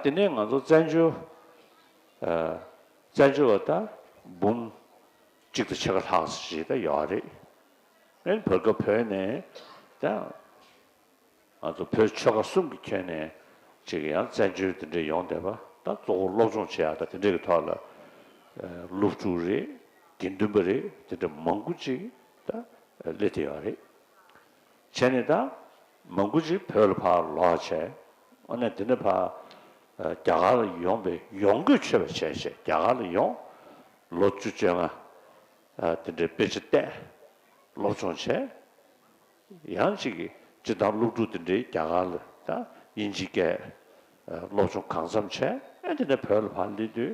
དེ་ནས་ང་ཚོ་བཙན་བྱོལ་བཙན་བྱོལ་བ་ད་འབུམ་གཅིག་དང་ཕྱེད་ཀ་ལྷག་ཞིག་ད་ཡོད་རེད། དེ་བར་སྐབས་བོད་ནས་ད་ང་ཚོ་བོད་ཆོལ་ཁ་གསུམ་གྱི་ཁྱོན་ནས་ཅིག་ཡང་བཙན་བྱོལ་དེ་འདྲའི་ཡོང་བསྡད་པ་ད་གཙོ་བོ་སློབ་སྦྱོང་བྱེད་ཡག་ད་དེ་འདྲའི་གི་ཐོག་ལ་སློབ་ཕྲུག་རེ་དགེ་འདུན་པ་རེ་དེ་འདྲ་མང་པོ་ཅིག་ད་སླེབས་བསྡད་ཡོད་རེད། བྱས་ནས་ད་མ་འགུལ་ཅིག་བོད་ལ་ཕར་ལོག་བྱས། ཨོ་ནས་དེ་ནས་ཕར་རྒྱ་གར་ལ་ཡོང་པའི་ཡོང་སྒོས་ཆོད་པ་བྱས་བྱས་རྒྱ་གར་ལ་ཡོང། ལོ་བཅུ་བཅོ་ལྔ་དེ་འདྲའི་དཔེ་ཆ་བལྟས། སློབ་སྦྱོང་བྱས། ཡང་ཅིག་གིས་སྤྱི་བཏང་སློབ་ཕྲུག་དེ་འདྲའི་རྒྱ་གར་ལ་ད་དབྱིན་ཇི་སྐད་སློབ་སྦྱོང་གང་འཚམས་བྱས། ཨེ་དེ་ནས་བོད་ལ་ཕར་སླེབས་དུས་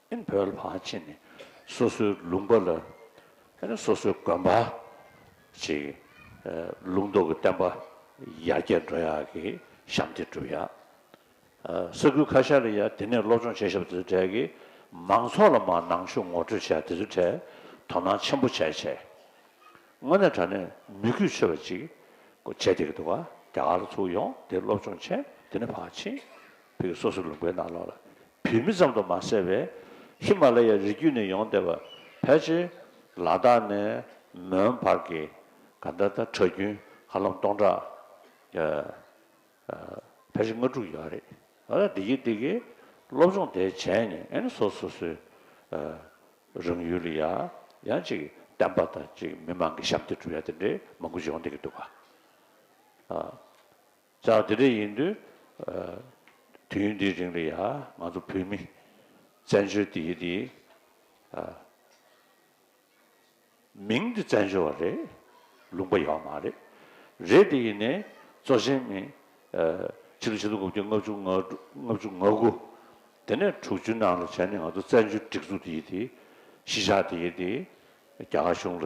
ཨིན་བོད་ལྷ་ཅེས་ནི་སོ་སོའི་ལུང་པ་ལ་ཨིན་སོ་སོའི་དགོན་པ་ཅིག་ལུང་རྟོགས་ཀྱི་བསྟན་པ་ཡར་རྒྱས་འགྲོ་ཡག་གི་ཞབས་འདེགས་བསྒྲུབ་ཡག་ས་ཁུལ་ཁ་ཤས་ལ་ཡང་དེ་ནས་སློབ་སྦྱོང་བྱེད་ཞབས་འདེགས་འབྲས་ཀྱི་མང་ཚོགས་ལ་མ་ནང་ཆོས་ངོ་སྤྲོད་བྱས་དེ་ཚོའི་གྲས་དོ་སྣང་ཆེན་པོ་བྱས་བྱས་དངོས་གནས་དྲ་གནས་མི་གུས་ཆོས་པ་ཅིག་བྱས་དེ་གི་འདུག་རྒྱ་གར་ལ་ཚུགས་ཡོང་དེ་སློབ་སྦྱོང་བྱས་དེ་ནས་ཕ་ཆིན་བོད་ཀྱི་སོ་སོའི་ལུང་པའི་ནང་ལོགས་ལ་བོད་མི་ཙམ་དུ་མ་ཟད་པའི་ཧི་མ་ལ་ཡའི་རི་རྒྱུད་ནས་ཡོང་བསྡད་པ་ཕལ་ཆེར་ལ་དྭགས་ནས་མོན་བར་གྱི་ག་འདྲ་ད་ཁྲག་རྒྱུན་ཧ་ལམ་སྟོང་ཕྲག་ཕལ་ཆེར་ལྔ་དྲུག་ཡོད་རེད། ད་ལྟ་འདི་གི་འདི་གི་སློབ་སྦྱོང་དེ་བྱས་ནས་ཨེ་ནི་སོ་སོ་སོའི་རང་ཡུལ་ལ་ཡང་ཡང་ཅིག་བསྟན་པ་དང་ཅིག་མི་མང་གི་ཞབས་འདེགས་བསྒྲུབ་ཡ་དེ་འདྲའི་མང་པོ་ཡོང་བསྡད་ཀྱི་འདུག་ག། ཅག་འདི་འདྲ་ཡིན་དུས། དུས་ཡུན་འདིའི་རིང་ལ་ཡང་ང་ཚོ་བོད་མི་བཙན་བྱོལ་འདི་ཡི་དེའི། མིང་འདི་བཙན་བྱོལ་བ་རེད་ལུང་པ་ཡོད་པ་མ་རེད། རེད་དེ་ཡིན་ནས་གཙོ་ཆེན་མི། ཕྱི་ལོ་ཆིག་སྟོང་དགུ་བརྒྱ་ལྔ་བཅུ་ལྔ་བཅུ་ང་དགུ། དེ་ནས་དྲུག་ཅུ་ནང་ལ་བྱས་ནས་ང་ཚོ་བཙན་བྱོལ་སྒྲིག་འཛུགས་འདི་ཡི་དེའི་གཞིས་ཆགས་འདི་ཡི་དེའི་རྒྱ་གར་གཞུང་ལ་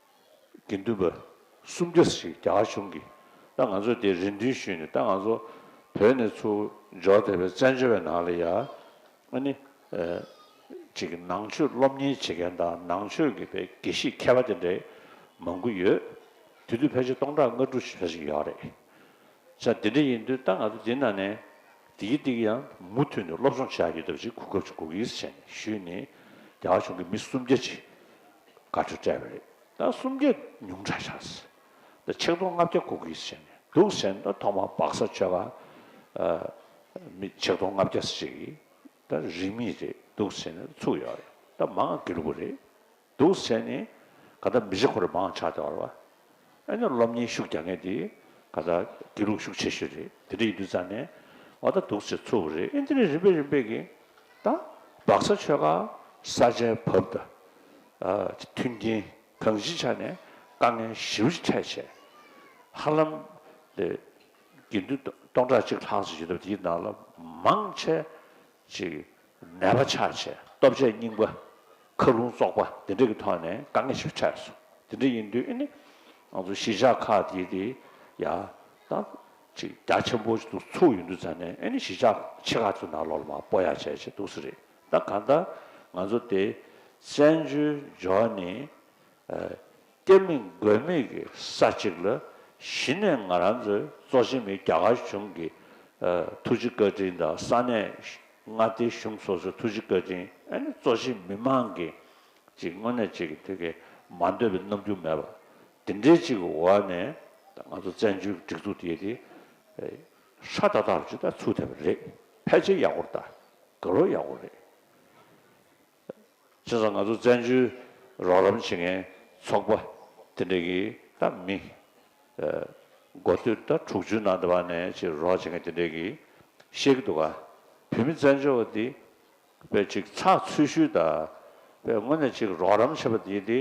དགེ་འདུན་པ་སུམ་བརྒྱ་ཞིག་རྒྱ་གར་གཞུང་གིས་ད་ང་ཚོ་དེ་རེ་འདུན་ཞུས་ནས་ད་ང་ཚོ་བོད་ནས་ཚུར་འབྱོར་དེ་བས་བཙན་བྱོལ་བའི་ནང་ལ་ཡ་ང་ནི་ཅིག་ནང་ཆོས་སློབ་གཉེར་བྱེད་མཁན་དང་ནང་ཆོས་ཀྱི་བའི་དགེ་བཤེས་མཁས་པ་དེ་འདྲ་མང་དགུ་ཡོད་དེ་དུས་ཕལ་ཆེར་སྟོང་ཕྲག་ལྔ་དྲུག་ཞེ་ཞིག་ཡོད་རེད་ཆ་དེ་འདྲ་ཡིན་དུས་ད་ང་ཚོ་དེ་ནང་ནས་དེ་གི་དེ་གི་ཡང་མུ་མཐུད་ནས་སློབ་སྦྱོང་བྱས་ཡོད་དུ་ཅིག་གོ་སྐབས་ཅིག་གོ་གིས་བྱས་ནས་ཞུས་ནས་རྒྱ་གར་གཞུང་གི་མི་སུམ་བརྒྱ་ཅིག་དགའ་སྤྲོ་སྤྲད་པ་རེད་ད་སུམ་བརྒྱ་ཉུང་དྲག་ཆགས་སྲིད་ད་ཆིག་སྟོང་ལྔ་བརྒྱ་གོ་གིས་བྱས་ནས་འདུག་ཟེར་ན་ཐོག་མར་སྦག་ས་ཆོལ་ཁ་མི་ཆིག་སྟོང་ལྔ་བརྒྱ་ཞིག་གིས་ད་རིས་མེད་རེད་འདུག་ཟེར་ནས་ཚུགས་ཡོད་རེད་ད་མང་དགེ་ལུགས་རེད་འདུག་ཟེར་ནས་ག་ད་མི་རེ་འཁོར་མང་ཆགས་བརྡལ་བ་ཨེ་ནུ་སློབ་གཉེར་ཤུགས་རྒྱག་མཁན་དེ་ག་ད་དགེ་ལུགས་ཤུགས་ཆེ་ཤོས་རེད་དེ་འདྲ་ཡིན་དུས་ཙང་ནས་ཨོ་ད་འདུག་ཟེར་ཚུ་བོ་རེད་ཨེ་འདི་རེད་རིམ་པས་རིམ་པས་གིས་ད་སྦག་ས་ཆོལ་ཁ་ས་ཆའི་བབ་ད་མཐུན་རྐྱེན་གང་ཞིག་ཆགས་ནས་དཀའ་ངལ་ཞི་བ་ཅིག་འཕྲད་བྱས་ཧ་ལམ་དགེ་འདུན་སྟོང་ཕྲག་གཅིག་ལྷག་ཅིག་ཡོད་སྟབས་དེའི་ནང་ལ་མང་ཆེ་ཅིག། ནད་པ་ཆགས་བྱེད་སྟོབས་ཆེ་རྙིང་པ། ཁ་རླུང་བཙོག་པ་འདི་འདྲ་གི་ཐོག་ནས་དཀའ་ངལ་ཞིག་འཕྲད་སོང་དེ་འདྲ་ཡིན་དུས་ནི། ང་ཚོ་གཞིས་ཆགས་ཁག་འདི་དེ་ཡ། ད། ཅིག་རྒྱ་ཆེན་པོ་ཞིག་ཏུ་ཚུགས་ཡོང་དུས་ད་ནས་ཨེ་ནི་གཞིས་ཆགས་ཆེ་ཁག་ཚོ་ནང་ལོག་ལ་མ་སྤོ་ཡ་བྱས་བྱས་འདུག་ས་རེད་ད་གང་ལྟར་ང་ཚོ་དེ། བཙན་བྱོལ་འབྱོར་ནི། བསྟན་མི་དགོས་མེད་ཀྱི་ས་ཅིག་ལ་གཞི་ནས་ང་རང་ཚོའི་གཙོ་ཆེ་མི་རྒྱ་གར་གཞུང་གི་ཐུགས་རྗེ་བཀའ་དྲིན་དང་ས་གནས་མངའ་སྡེ་གཞུང་སོ་སོའི་ཐུགས་རྗེ་བཀའ་དྲིན་ཨ་ནི་གཙོ་ཆེ་མི་མང་གི་ཅིག་དངོས་གནས་ཅིག་གི་ཐུགས་ཀྱི་མ་འདོད་པའི་རྣམ་འགྱུར་མེད་པ་དེ་འདྲའི་ཅིག་གི་འོག་ནས་ང་ཚོ་བཙན་བྱོལ་གྱི་སྒྲིག་འཛུགས་དེ་དེ་ཧྲ་ཏཱ་ཏཱ་རུ་ཇི་ལྟར་ཚུགས་ཐུབ་པ་རེད་ཕལ་ཆེར་ཡག་པོ་རེད་དགེ་སློབ་ཡག་པོ་རེད། བྱས་ཙང་ང་ཚོ་བཙན་བྱོལ་རོགས་རམ་བྱེད་མཁན་ཚོགས་པ་དེ་འདྲ་གིས་ད་མི་མགོ་སྟོད་ཟླ་དྲུག་ཅུའི་ནང་དུ་བ་ནས་ཅིག་རོགས་བྱེད་མཁན་དེ་འདྲས་ཀྱིས་བཤད་ཀྱི་འདུག་ག་བོད་མི་བཙན་བྱོལ་བ་འདི་བས་ཅིག་ཚགས་ཚུད་ཤུལ་ད་བས་སྔོན་ནས་ཅིག་རོགས་རམ་བྱས་པ་འདིས་འདི་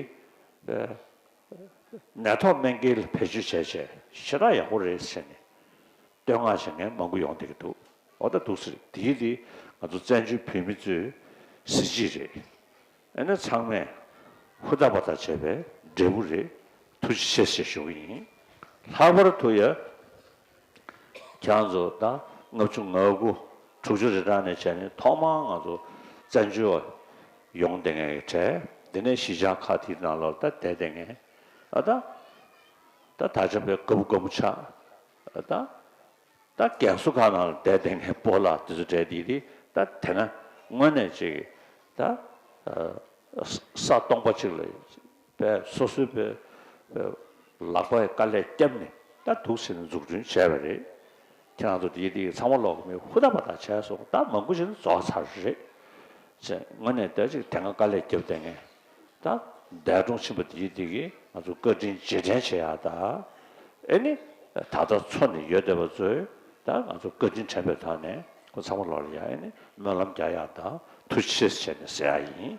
ནད་ཐོག་སྨན་ཀེལ་བེད་སྤྱོད་བྱས་བྱས་ཞེ་དྲག་ཡག་པོ་རེད་ཟེར་ནས་བསྟོད་བསྔགས་བཞེས་མཁན་མང་པོ་ཡོང་འདོད་ཀྱི་འདུག་འོ་ད་འདུག་ཟེར་དེ་འདི་ང་ཚོ་བཙན་བྱོལ་བོད་མི་ཚོའི་གཟི་བརྗིད་རེད་ཨེ་ན་ཚང་མས་ཧུར་ཐག་བར་ཐག་བྱས་པའི་འབྲས་བུ་རེད་ཐུགས་རྗེ་ཆེ་ཞེས་ཞུ་གི་ཡིན་ལྷག་པར་དུ་ཡང་ཁྱེད་རང་ཚོ་ད་ལྔ་བཅུ་ང་དགུ་དྲུག་ཅུ་རེ་གྲངས་ནས་བྱས་ནས་ཐོག་མར་ང་ཚོ་བཙན་བྱོལ་བ་ཡོང་བསྡད་མཁན་གྱི་གྲས་དེ་ནས་གཞིས་ཆགས་ཁག་དེའི་ནང་ལོགས་ལྟ་བསྡད་བསྡད་མཁན་ཨ་ད་ད་ད་ཆ་བོད་དགའ་བོ་དགའ་མོ་ཆགས་ད་ད་རྒན་སུ་ག་ན་ལ་བསྡད་བསྡད་ངས་སྤོ་ལ་དེ་ཚོ་འདྲེ་འདི་འདི་ད་དེ་ན་དངོས་གནས་ཅིག་ད་ས་སྟོང་པ་ཅིག་ལ་པའི་སོ་སོའི་པའི་ལག་པའི་དཀའ་ལས་བསྐྱབས་ནས་ད་དུག་སེལ་ནས་འཛུགས་སྐྲུན་བྱས་པ་རེད། ཁྱེད་རང་ཚོ་འདི་འདི་ཚང་མ་ལོག་གི་མི་ཧུ་ད་བ་ད་བྱས་སོང་ད་མང་པོ་ཞིག་ནི་རྫོགས་ཚར་རེད། ཅེས་དངོས་གནས་ད་ཅིག་དེ་སྔ་དཀའ་ལས་བརྒྱབ་བསྡད་ངས། དང། འདས་གྲོངས་ཕྱིན་པ་དེའི་སྟེང་གི་ང་ཚོ་བཀའ་དྲིན་རྗེས་དྲན་བྱེད་ཡག་དང། ཨེ་ནི། ད་ལྟ་འཚོ་ནས་ཡོད་བསྡད་པ་ཚོས་དང་ང་ཚོ་བཀའ་དྲིན་དྲན་པའི་ཐོག་ནས་ཁོ་ཚང་མ་ལོག་ཡག་ཨེ་ནི་སྨོན་ལམ་རྒྱག་ཡག་དང་ཐུགས་ཆེས་བྱས་ནས་ཟེར་ཡག་ཡིན།